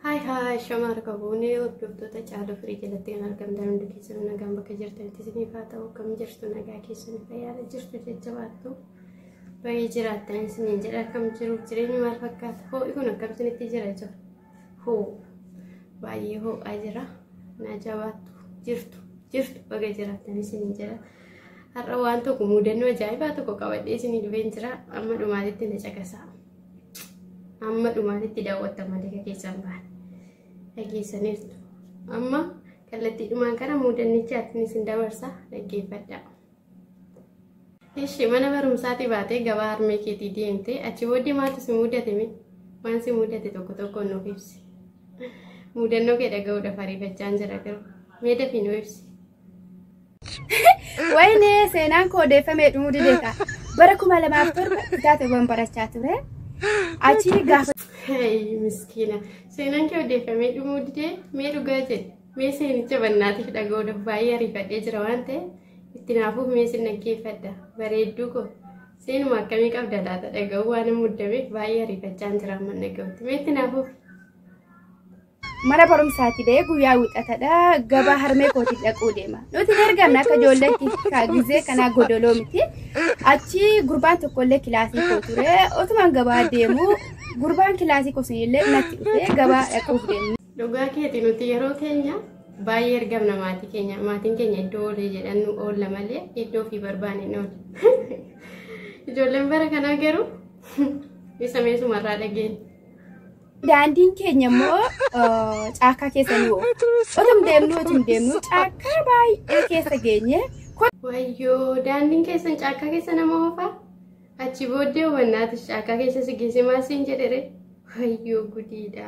Haay haay shamaa harka buunee hordoftoota caaluu firii jalatti kan argamtan hundi keessanuu nagaan bakka jirtanitti isiniif haa ta'u kam jirtu nagaa keessanii fayyaala jirtu jajjabaattu baay'ee jiraattan isiniin jedha kam jiruuf jireenyi maal fakkaata hoo'i kun akkam isinitti jira jiru. Hoo baay'ee hoo'aa jira. Naa jabaattu jirtu jirtu baga jiraattan isin jira. Har'a waan tokko mudannoo ajaa'ibaa tokko qabadhee isin dhufeen jira. Amma dhumaatitti na caqasaa. Amma dhumaatitti daawwattan malee ka keessan bahan. Dhageessaniirtu. Amma kallattii dhumaan kana mudannichaatiin isin dabarsa dhaggeeffadhaa. Ishi mana barumsaatii baatee gabaa harmee keetii deemte achi booddee maaltu si mudate mee waan si mudate tokko tokkoon nuuf ibsi. Mudannoo kee dhaga'uudhaaf ariifachaan jira garuu mee dafii nu ibsi. Wayne seenaan koo odeeffamee dhumuu didee ta'a. Bara kuma lamaaf torba gaateewwan barachaa ture. Achi gaafa Hey miskiina seenaan kee odeeffamee dhumuu didee mee dhugaa jedhe. Mee seenicha bannaatiif dhaga'uudhaaf baay'ee ariifadhee jira waan ta'e itti naafuuf mee sin dhaggeeffadha bareedduu koo seenuma akkamii qabda laata dhaga'uu waan hin muddameef baay'ee ariifachaan jira amma dhaga'utti mee itti naafuuf. Mana barumsaati ba'ee guyyaa wixatadha gabaa harmee kootii dhaquu deema. Nuti hin ergamne akka ijoolleetti gizee kanaa godoloo miti. Achi gurbaan tokkollee kilaasii koo ture otumaan gabaa deemu gurbaan kilaasii koo sunillee natti dhufee gabaa dhaquuf deemu. Dhugaa keeti nuti yeroo keenya baay'ee ergamna maatii keenya maatiin keenya iddoo oolee jedhannu oolla malee iddoo fi barbaanne hin oolle. Ijoolleen bara kanaa garuu isa meesumarraa dhageenya. Daandiin keenya immoo eh, caakkaa keessa nu oola. Otum deemnu otum deemnu caakkaa baay'ee keessa geenye Wayyoo daandiin keessan caakkaa keessa nama oofaa? Achi booddee hubannaatis caakkaa keessa si geesse maal siin jedhere? Wayyoo gudiidha.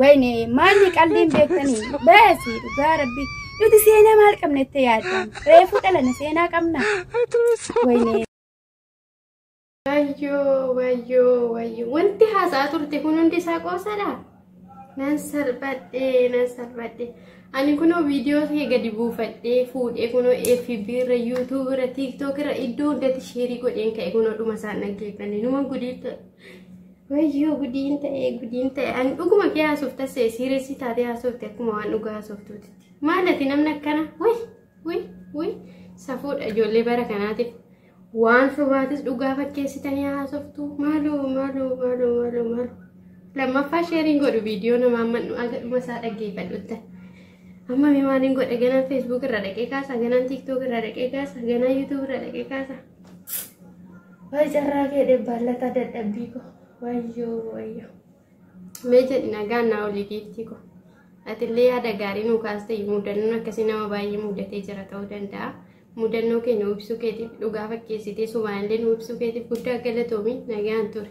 Wayne maalli qalliin beektanii baasii dhugaa rabbi nuti seenaa maal qabna itti yaaddan reefuu dhalana seenaa qabna wayne Wayyoo wayyoo wayyoo wanti haasa'aa turte kun hundi isaa qoosadha. Nan salphadhe nan salphadhe. Ani kunoo viidiyoo kee gadi buufadhee fuudhee kunoo FB irra YouTube irra TikTok irra iddoo hundatti sheerii godheen ka'e kunoo dhuma isaan dhaggeeffanne numa gudiitta. Wayyoo gudiin ta'ee gudiin ta'e an dhuguma kee haasuuf tassee siireessii taatee haasuufte akkuma waan dhugaa haasuuftuutitti. Maal ati namni akkana wai wai wai safuudha ijoollee bara kanaatiif waan sobaatis dhugaa fakkeessitanii haasoftu maaloo maaloo maaloo maaloo maaloo. Lammaffaa sheeriin godhu viidiyoo namaa mannu aga dhuma isaa dhaggeeffadhuutta. Amma mi maaliin godha ganaan feesbuuk irra dhaqee kaasa ganaan tiiktook irra dhaqee kaasa ganaan yuutuub irra dhaqee kaasa. Wayi carraa kee dhebbaallataa dadhabbii koo. Wayyoo wayyoo. Mee jedhi nagaan naa olii giiftii koo. Atillee yaada gaarii nuu kaaste mudannoon akkasii nama baay'ee mudatee jira ta'uu danda'a. Mudannoo kee nuu ibsuu keetiif dhugaa fakkeessitee sumaayillee nuu ibsuu keetiif guddaa galatoomi nagaan ture.